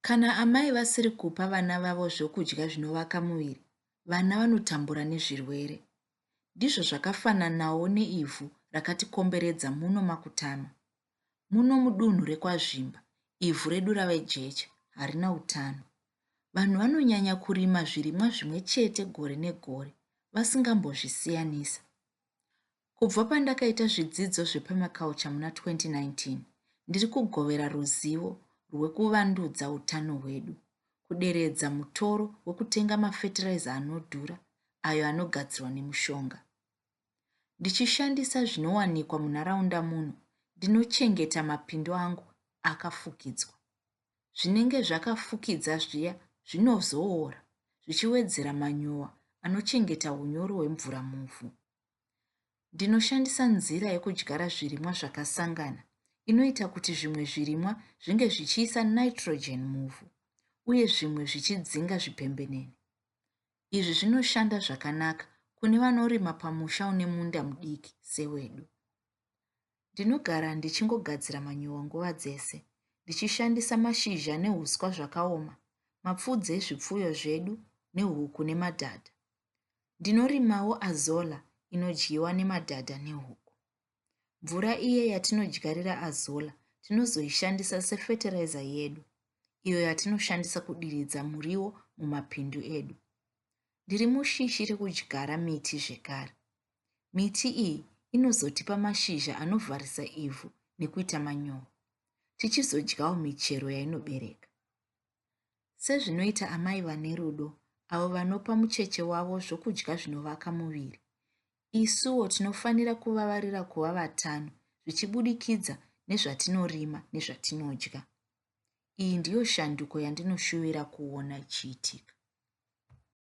Kana amai vasiri kupa vana vavo zvokudya zvinovaka muviri, vana vanotambura nezvirwere. Ndizvo zvakafananawo neivhu rakatikomberedza muno maKutama. Muno mudunhu rekwaZvimba, ivhu redu rave jecha, harina utano. Vanhu vanonyanya kurima zvirimwa zvimwe chete gore negore, vasingambozvisiyanisa. Kubva pandakaita zvidzidzo zvepermaculture muna 2019, ndiri kugovera ruzivo rwekuvandudza utano hwedu, kuderedza mutoro wekutenga mafetiraiza anodhura ayo anogadzirwa nemushonga. Ndichishandisa zvinowanikwa munharaunda muno, ndinochengeta mapindu angu akafukidzwa. Zvinenge zvakafukidza zviya zvinozoora zvichiwedzera manyowa anochengeta unyoro hwemvura muvhu. Ndinoshandisa nzira yekudyara zvirimwa zvakasangana inoita kuti zvimwe zvirimwa zvinge zvichiisa nitrogen muvhu uye zvimwe zvichidzinga zvipembenene. Izvi zvinoshanda zvakanaka kune vanorima pamusha une munda mudiki sewedu. Ndinogara ndichingogadzira manyowa nguva dzese ndichishandisa mashizha neuswa zvakaoma, mapfudzi ezvipfuyo zvedu nehuku nemadhadha. Ndinorimawo azolla inodyiwa nemadhadha nehuku. Mvura iye yatinodyarira azolla tinozoishandisa sefeteraiza yedu, iyo yatinoshandisa kudiridza muriwo mumapindu edu. Ndiri mushishi rekudyara miti zvekare. Miti iyi inozotipa mashizha anovharisa ivhu nekuita manyowa. Tichizodyawo michero yainobereka. sezvinoita amai vane rudo avo vanopa mucheche wavo zvokudya zvinovaka muviri. Isuwo tinofanira kuvavarira kuva vatano zvichibudikidza nezvatinorima nezvatinodya. Iyi ndiyo shanduko yandinoshuvira kuona ichiitika.